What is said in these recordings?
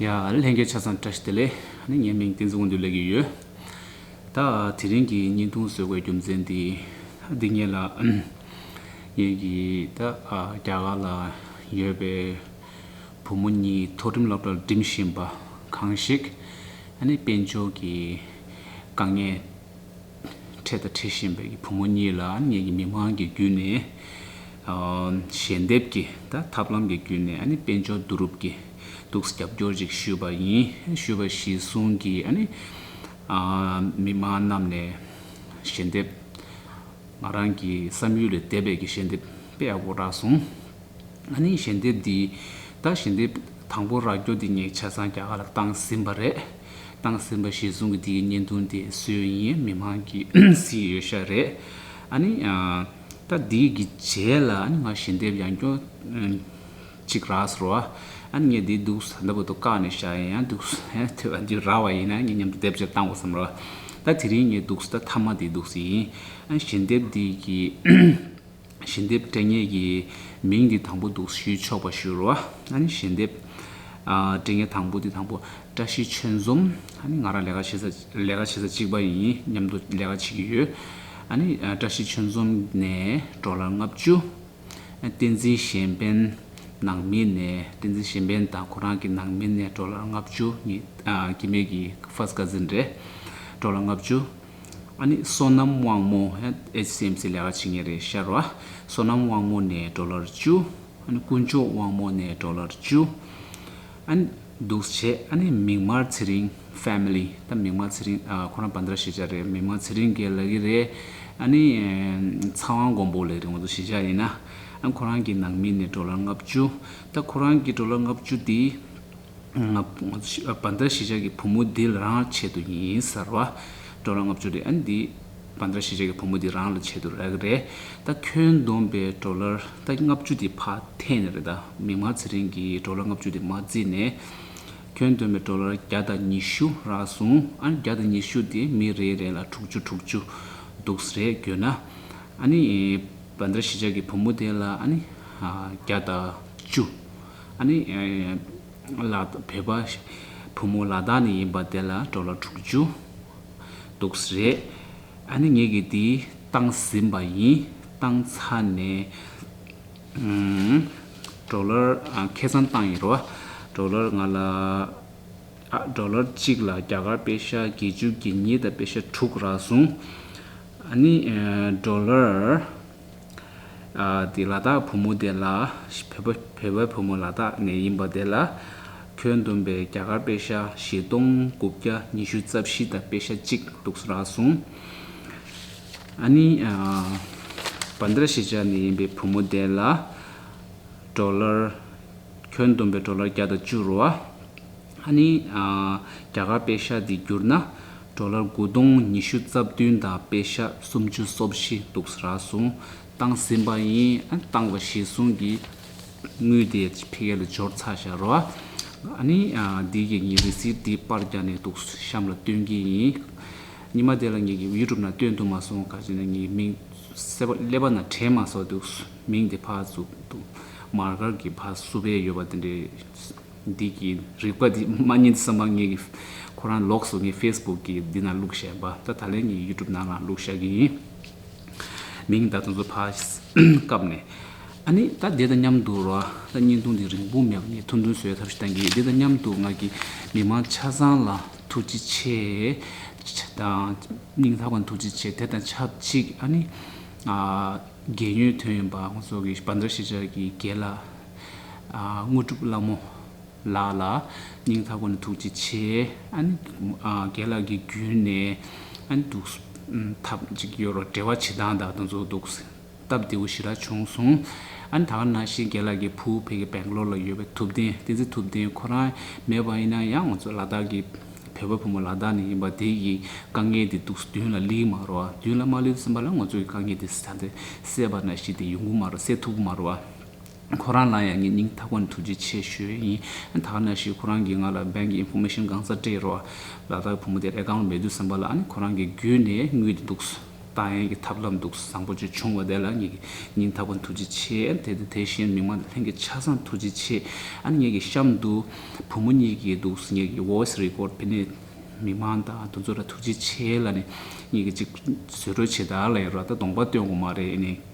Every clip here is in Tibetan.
ཡང་ལྷན་རྒྱས་ཆ་ཚང་བཀྲ་ཤིས་བདེ་ལེགས། ངའི་མིང་བསྟན་འཛིན་དགོངས་འདུས་ལེགས་ཀྱི་ཡོད། ད་དེ་རིང་གི་བརྙན་ཐུང་བཟོ་བའི་རྒྱུ་མཚན་འདི་འདི་ངེད་ལ། ངེད་ཀྱི་ད་རྒྱ་གར་ལ་ཡོད་པའི་བུ་མོ་གཉིས་ཐོག་འགྲིམ་སློབ་གྲྭར་འགྲིམ་བཞིན་པ་གང་ཞིག། དཔལ་འབྱོར་གྱི་དཀའ་ངལ། ཁྲེ་དང་ཁྲེ་ཤན་པའི་བུ་མོ་གཉིས་ལ་ངེད་ཀྱི་མི་དམངས་ཀྱི་བརྒྱུད་ནས་ཞལ་འདེབས་ཀྱི་དང་ཐབས་ལམ་གྱི་བརྒྱུད་ནས་དཔལ་འབྱོར་བསྡུ་རུབ་ཀྱི་ཐུགས་རྒྱབ་སྐྱོར་ཅིག་ཞུས་པ་ཡིན་ཞུས་པ་གཞི་བཟུང་གིས་མི་དམངས་རྣམས་ནས་ཞལ་འདེབས་ང་རང་གི་བསམ་ཡུལ་ལས་འདས་པའི་ཞལ་འདེབས་སྤེལ་བར་སྐོར་བསྒྲགས་སོང། ང་ནི་ཞལ་འདེབས་འདི་ད་ཞལ་འདེབས་དང་པོ་ར་སྐྱོ་འདི་ངས་ཆ་ཚང་རྒྱ་གར་ལ་བཏང་ཟིན་པ་རེད། བཏང་ཟིན་པ་ཞེས་གསུང་གི་འདིའི་བརྙན་ཐུང་དེ་སུའི་ཡིན་མི་མང་གི་སིའི་ཡོད་ཤག་རེད། ཨ་ནི། ད་འདི་གི་རྗེས་ལ་ཨ་ནི་ང་ཞལ་འདེབས་ཡང་སྐྱོ། ཅིག་ར་སོ། ཨ་ནི་ངས་འདི་འདུག་ཟ་འདི་པོ་ཏོ་བཀག་ནས་ཤག་ཡིན་ཡང་འདུག་ཐོས་པ་འདི་ར་བ་ཡིན་ན་ངས་མཉམ་དུ་འདེབས་ཅེར་བཏང་བ་བསམ་ར་བ། ད་དེ་རིང་ངས་འདུག་ད་མཐའ་མ་འདི་འདུག་ཡིན། ཨ་ནི་ཞལ་འདེབས་འདི་གི། ཞལ་འདེབས་སྤྲད་ངེས་ཀྱི་མིང་འདི་དང་པོ་འདུག་ཞུས་ཆོག་པ་ཞུ་རོ། ཞལ་འདེབས་སྤྲད་ངེས་དང་པོ་འདི་དང་པོ། བཀྲ་ཤིས་ཆོས་འཛོམ། ང་རང་ལས་ཀ་བྱེད་ས་ལས་ཀ་བྱེད་ས་གཅིག་པ་ཡིན་མཉམ་དུ་ལས་ཀ་བྱེད་ཀྱི་ཡོད། བཀྲ་ཤིས་ཆོས་འཛོམ་ནས་འབྲོག་ལ་ལྔ་བཅུ། བསྟན་འཛིན་གཞན་ཕན་ནང་མི་ནས་བསྟན་འཛིན་གཞན་ཕན་དང་ཁོ་རང་གི་ནང་མི་ནས་འབྲོག་ལ་ལྔ་བཅུ་གཉིས་ཀྱི་མེད་ཀྱི་ཕཱརསྟ་ཀ་ཟིན་རེད། འབྲོག་ལ་ལྔ་བཅུ། ཨ་ནི་བསོད་ནམས་དབང་མོ HCMC ལས་ཀ་བྱེད་ངེས་རེད་ཤར་བ། བསོད་ནམས་དབང་མོ་ནས་འགྲོ་ལར་བཅུ། ཨ་ནི་དཀོན་མཆོག་དབང་མོ་ནས་འགྲོ་ལར་བཅུ། ཨ་ནི། འདུག་བྱས་ཨ་ནི་མིག་དམར་ཚེ་རིང Family ད་མིག་དམར་ཚེ་རིང་ཁོ་རང་བ་འདི་ར་ཤེས་བྱ་རེད་མིག་དམར་ཚེ་རིང་གེ་ལགས་ཀྱི་རེད། ཨ་ནི། ཚ་བ་མགོན་པོ་ལས་རིང་བ་འདུག་ཤེས་བྱ་ཡིན་ན། ཨ་ནི་ཁོ་རང་གི་ནང་མི་ནས་འགྲོ་ལར་ལྔ་བཅུ། ད་ཁོ་རང་གི་འགྲོ་ལར་ལྔ་བཅུ་དེ། བ་འདྲ་ཞི་ཆགས་ཀྱི་བུ་མོ་འདི་རང་ལ་ཆེད་དུ་ཡིན་གསར་བ། འགྲོ་ལ་ལྔ་བཅུ་རེད་ཨ་ནི་འདི་བ་འདྲ་ཞི་ཆགས་ཀྱི་བུ་མོ་འདི་རང་ལ་ཆེད་དུ་རེད་གི་རེད་ད་ཁྱོད་འདོམས་པའི་འགྲོ་ལ་ད་ལྔ་བཅུ་དེ་ཕ་འཐེན་ནི་རེད་ད་མིག་དམར་ཚེ་རིང་གིས་འགྲོ་ལ་ལྔ་བཅུ་དེ་མ་བརྩིས་ནས་ཁྱོད་འདོམས་པའི་འགྲོ་ལ་བརྒྱ་དང་ཉི་ཤུ་རག་སོང་ཨ་ནི་བརྒྱ་དང་ཉི་ཤུ་དེ་མི་རེ་རེ་ལ་དྲུག་ཅུ་དྲུག་ཅུ་འདུག་ས་རེད་གྱོད་ན་ཨ་ནི་བ་འདྲ་ཞི་ཆགས་ཀྱི་བུ་མོ་དེ་ལ་ཨ་ནི་བརྒྱ་དང་བཅུ། ཨ་ནེ། ལ་བོས་པ། བུ་མོ་ལ་དྭགས་ནས་ཡིན་པ་དེ་ལ་གྲོ་ལ་དྲུག་ཅུ། འདུག་ས་རེད། ཨ་ནེ་ངེད་ཀྱིས་དེའི་སྟང་ཟིན་པ་ཡིན། སྟང་ཚ་ནས། གྲོ་ལར། ཁེ་བཟང་བཏང་ཡིན་རོ། གྲོ་ལར་ང་ལ། ཨ། གྲོ་ལར་གཅིག་ལ་རྒྱ་གར་པེ་ཤ་བརྒྱད་ཅུ་བརྒྱད་གཉིས་དང་པེ་ཤ་དྲུག་རག་སོང། ཨ་ནེ། གྲོ་ལར། དེ་ལ་དྭགས་བུ་མོ་དེ་ལ། བོད་པའི་བུ་མོ་ལ་དྭགས་ནས་ཡིན་པ་དེ་ལ། ཁྱོད་འདོན་པའི་རྒྱ་གར་དཔེ་ཤ་བཞི་སྟོང་དགུ་བརྒྱ་ཉི་ཤུ་རྩ་བཞི་དང་དཔེ་ཤ་གཅིག་འདུག་ར་གསུངས། ཨ་ནི། བཱན་དཱ་ར་ཤེས་བྱ་ནས་ཡིན་པའི་བུ་མོ་དེ་ལ། གྲོ་ལར། ཁྱོད་འདོན་པའི་གྲོ་ལར་བརྒྱ་དང་བཅུ་རུ་བ། ཧ་ནི། རྒྱ་གར་པེ་ཤ་འདི་བསྒྱུར་ན། གྲོ་ལར་དགུ་སྟོང་ཉི་ཤུ་རྩ་བདུན་དང་པེ་ཤ་སུམ་ཅུ་སོ་བཞི་འདུག་ས་ར་སུང་བཏང་ཟིན་པ་ཡིན། བཏང་བ་གཞི་བཟུང་གིས་དངུལ་དེ་ཕི་གེ་ལ་འབྱོར་ཚར་བཞག་རོ། ཨ་ནི། འདིའི་ཡིག་རྙིང་རི་སིལ་འདི་པར་རྒྱག་ནས་འདུག་གཤམ་ལ་སྟོན་གྱི་ཡིན། ཉི་མ་དེ་ལ་ངེད་ཀྱིས་ཡུལ་གྲུབ་ན་སྟོན་ཐུབ་མ་སོང་ག་ཅེ་ན་ངེད་ཀྱི་མིང་གསལ་བོ་ཀླད་པ་ན་དྲན་མ་སོང་འདུག་མིང་དེ་ཕ་བཙུགས་འདུག་མར་མཁར་གྱི་ཕ་བསུ་བས་ཡོད་པ་དེ་འདྲའི། འདི་གི་རིག་པ་འདི་མ་ཉན་ས་མ་ངེས་ཀྱི། ཁོ་རང་ལོགས་སུ་ངའི facebook གི་འདི་ན་བླུགས་ཞེན་པ་ད་ད་ལན་གྱི youtube ནང་ལའང་བླུགས་ཤག་གི་ཡིན། མིང་ད་དུང་ཚོ་ཕ་སྐབས་ནས། ཨ་ནི་ད་དེ་དང་མཉམ་དུ་རོ། ད་བརྙན་ཐུང་འདི་རིང་པོ་མེད་པ་ངས་ཐུང་ཐུང་བཟོས་ཐབས་ཤིག་གཏང་གི་དེ་དང་མཉམ་དུ་ང་གི་མི་མང་ཆ་ཚང་ལ་ཐུགས་རྗེ་ཆེ། སྙིང་ཐག་པ་ཐུགས་རྗེ་ཆེ་དེ་དང་ཆབས་ཅིག་ཨ་ནི། རྒན་ཡོལ་དོན་ཡོད་པ་ཚོ་གི་བར་འདྲ་ཤེས་བྱ་གི་རྒན་ལགས། དངོས་གྲུབ་བླ་མོ་ལགས་ལ་སྙིང་ཐག་པ་ནས་ཐུགས་རྗེ་ཆེ། རྒན་ལགས་ཀྱི་རྒྱུད་ནས་འདུག་ཐབས་ཅིག་ཡོད་རོགས་བྲེལ་བ་བྱེད་སྟངས་དག་དང་ཚོགས་འདུག་སྟབས་བདེ་བོ་ཞིག་རག་བྱུང་སོང། ད་ག་ན་ཤི་རྒན་ལགས་ཀྱི་བུ་ཕེ་གི་བེང་གློར་ལ་ཡོད་པའི་ཐུབ་བསྟན་བསྟན་འཛིན་ཐུབ་བསྟན་ཁོ་རང་མེད་པ་ཡིན་ན་ཡང་ང་ཚོ་ལ་དྭགས་ཀྱི་བལ་བོའི་བུ་མོ་ལ་དྭགས་ནས་ཡིན་པ་དེ་ཡི་དཀའ་ངལ་དེ་འདུག་མདུན་ལ་ལིའི་མ་རོ་མདུན་ལ་མ་ལུས་ཟིན་པ་ལ་ང་ཚོ་ཡི་དཀའ་ངལ་དེ་ད་ནས་སེལ་བ་ན་ཞི་དེ་ཡོང་གི་མ་རོ་སེལ་ཐུབ་གི་མ་རོ། ཁོ་རང་ལ་ཡང་ངེད་གཉིས་མཐའ་ཀུན་ཐུགས་རྗེ་ཆེ་ཞུས་ཡིན་ད་ན་ཞིག་ཁོ་རང་གིས་ང་ལ་སྦན་གྱི Information གང་སར་སྤྲད་རོགས། ལ་དྭགས་བུ་མོ་དེ་རེ་འགང་མེད་དུས་སེམས་པ་ལ་ཁོ་རང་གི་རྒྱུད་ནས་ངུས་ཏེ་འདུག་ད་ཡན་གྱི་ཐབས་ལམ་འདུག་བཟང་པོ་ཅིག་བྱུང་བ་དེ་ལ་ངེད་གཉིས་མཐའ་ཀུན་ཐུགས་རྗེ་ཆེ་དེ་དེ་བཞིན་མི་མང་དེ་ལྷན་གྱི་ཆ་བཟང་ཐུགས་རྗེ་ཆེ་ངེད་ཀྱི་གཤམ་དུ་བུ་མོ་གཉིས་ཀྱིས་འདུག་ངེད་ཀྱི Voice Record དེ་ནས་མི་མང་དང་དུ་ཚོད་ལ་ཐུགས་རྗེ་ཆེ་ལ་ནས་ངེད་ཀྱི་ཅིག་བཟོད་བྲོས་ཆེ་དར་ལ་ཡོད་ར་ད་གདོང་པ་སྟོན་དགོས་མ་རེད་ཨེ་ནས།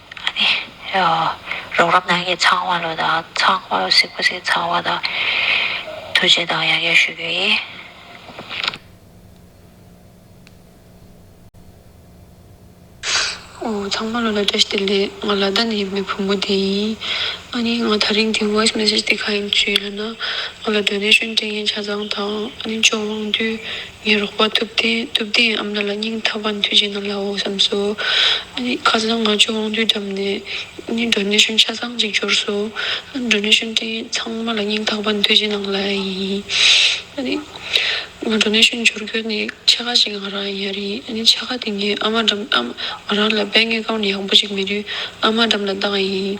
ཨ་ནི། རོགས་རམ་གནང་མཁན་ཚང་མ་ལོ་དང་ཚང་མ་ལོ་སིག་པ་སིག་ཚང་མ་དང་ཐུགས་རྗེ་དང་ཡང་ཡང་ཞུ་རྒྱུ་ཡིན། ཚང་མ་ལོ་ལ་བཀྲ་ཤིས་བདེ་ལེགས་ང་ལ་དྭ་ནི་ཡིན་པའི་བུ་མོ་དེ་ཡིན། ཨ་ནི། ང་ཐག་རིང་གི voice message དེ་ག་ཡིན་བྱོས་ཡོད་ན། ང་ལ donation སྤྲད་མཁན་ཆ་ཚང་དང་ཨ་ནི་མཆོག་དབང་འདུས། ངའི་རོགས་པ་ཐུབ་བསྟན་ཐུབ་བསྟན་ཨ་མྲ་ལ་སྙིང་ཐག་པ་མཐུད་ཅིག་གནང་ལའོ་བསམས་སོ། ཁ་སང་ང་ཆུ་དབང་འདུས་བསྡམས་ནས Donation ཆ་ཚང་གཅིག་འབྱོར་སོ། Donation དེ་ཚང་མ་ལ་སྙིང་ཐག་པ་མཐུད་ཅིག་གནང་ལ་ཡིན། ང Donation འབྱོར་དགོས་ནས་ཆ་ཁ་ཞིག་ང་རང་ཡར་ཡིན་ཆ་ཁ་དེ་ངས་ཨ་མ་འགྲམ་ཨ་མ་རང་ལ་དཔེ་ངེས་ཀང་ཡག་པོ་ཞིག་མེད་དུས་ཨ་མ་འགྲམ་ལ་བཏང་ཡིན།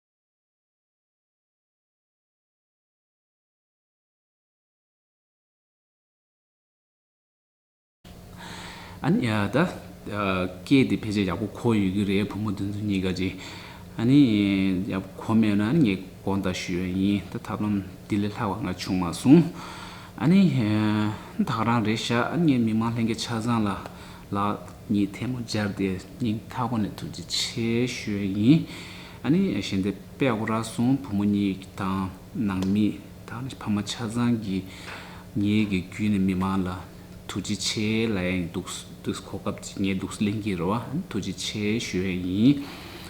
ཨ་ནི། ད་སྐད་དེ་ཕལ་ཆེར་ཡག་པོ་གོ་ཡོད་ཀྱི་རེད་བུ་མོ་དེ་ཚོ་གཉིས་ཀ་ཅིག། ཨ་ནི། ཡག་པོ་གོ་མེད་ན་ཨ་ནི་ངས་དགོངས་དག་ཞུ་ཡ་ཡིན་ད་ཐབས་ལམ་དེ་ལས་ལྷག་པ་ང་བྱུང་མ་སོང། ཨ་ནི། བདག་རང་རེད་ཤག་ཨ་ནི་ངས་མི་མང་ལྷན་རྒྱས་ཆ་ཚང་ལ་ལག་གཉིས་ཐལ་མོ་སྦྱར་ཏེ་སྙིང་ཐག་པ་ནས་ཐུགས་རྗེ་ཆེ་ཞུ་ཡ་ཡིན། ཨ་ནི་ཞལ་འདེབས་པས་སྐུ་རག་སོང་བུ་མོ་གཉིས་དང་ནང་མི་དང་ཕ་མ་ཆ་ཚང་གིས་ངེད་ཀྱི་བརྒྱུད་ནས་མི་མང་ལ་ཐུགས་རྗེ་ཆེ་ལའང་འདུག་གོ་སྐབས་ཅིག་ངས་འདུག་གླེང་གི་རེད་བ་ཐུགས་རྗེ་ཆེ་ཞུ་ཡས་ཡིན་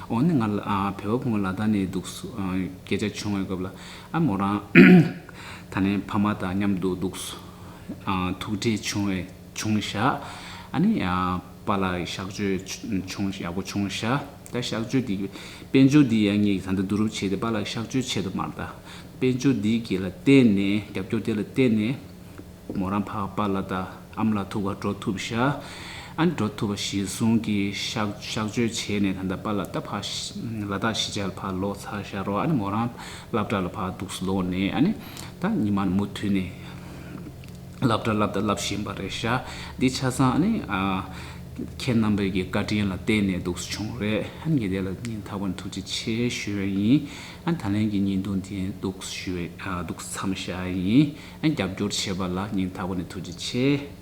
འོ་ནི་ང་བལ་བོ་བུ་མོ་ལ་ད་ནི་འདུག་སྐད་ཆ་བྱུང་བའི་སྐབས་ལ་ཨ་མོ་རང་ད་ནི་ཕ་མ་དང་མཉམ་དུ་འདུག་ཐུགས་རྗེ་ཆུང་བས་ཆུང་བཞག་ཨ་ནི་པ་ལ་བཞག་བརྗོད་ཆུང་ཡག་པོ་ཆུང་བཞག། ད་གཤགས་བཅོས་འདི་དཔལ་འབྱོར་འདི་ཡག་ཉེས་ཀྱི་གང་འདྲ་བསྡུ་རུབ་བྱས་ཏེ་པཱ་ལགས་གཤགས་བཅོས་བྱེད་དུ་མར་བལྟ། དཔལ་འབྱོར་འདི་དགེ་ལ་བརྟེན་ནས་རྒྱབ་སྐྱོར་དེ་ལ་བརྟེན་ནས། མོ་རང་ཕ་པ་ལ་ད་ཨམ་ལ་ཐུག་བ་འགྲོ་ཐུབ་ཤ་ཨ་ནི་འགྲོ་ཐུབ་པ་གཞི་བཟུང་གིས་གཤགས་བཅོས་བྱས་ནས་ད་ལྟ་པཱ་ལ་ད་ཕ་ལ་ད་གཞི་བྱས་ལ་ཕ་ལོག་ཚར་ཤ་རོ་ཨ་ནི་མོ་རང་བླ་བྲག་ལ་ཕ་སྡུགས་སུ་ལོག་ནས་ཨ་ནི་ད་ཉི་མ་ནི་མུ་མཐུད་ནས། བསླབ་གྲྭ་བསླབ་དང་བསླབ་བཞིན་པ་རེད་ཤག་འདི་ཆ་ཚང་ནི། ཁྱེད་རྣམ་པའི་གི་བཀའ་དྲིན་ལ་བརྟེན་ནས་འདུག་བྱུང་རེད་ཉི་དེ་ལ་ཉིན་ཐ་བར་ཐུགས་རྗེ་ཆེ་ཞུ་ཡ་ཡིན་ད་ལན་གི་ཉིན་དུ་འདི་འདུག་ཞུ་འདུག་མཚམས་བཞག་ཡ་ཡིན་རྒྱབ་སྐྱོར་བྱས་པ་ལ་ཉིན་ཐ་བ་ནས་ཐུགས་རྗེ་ཆེ།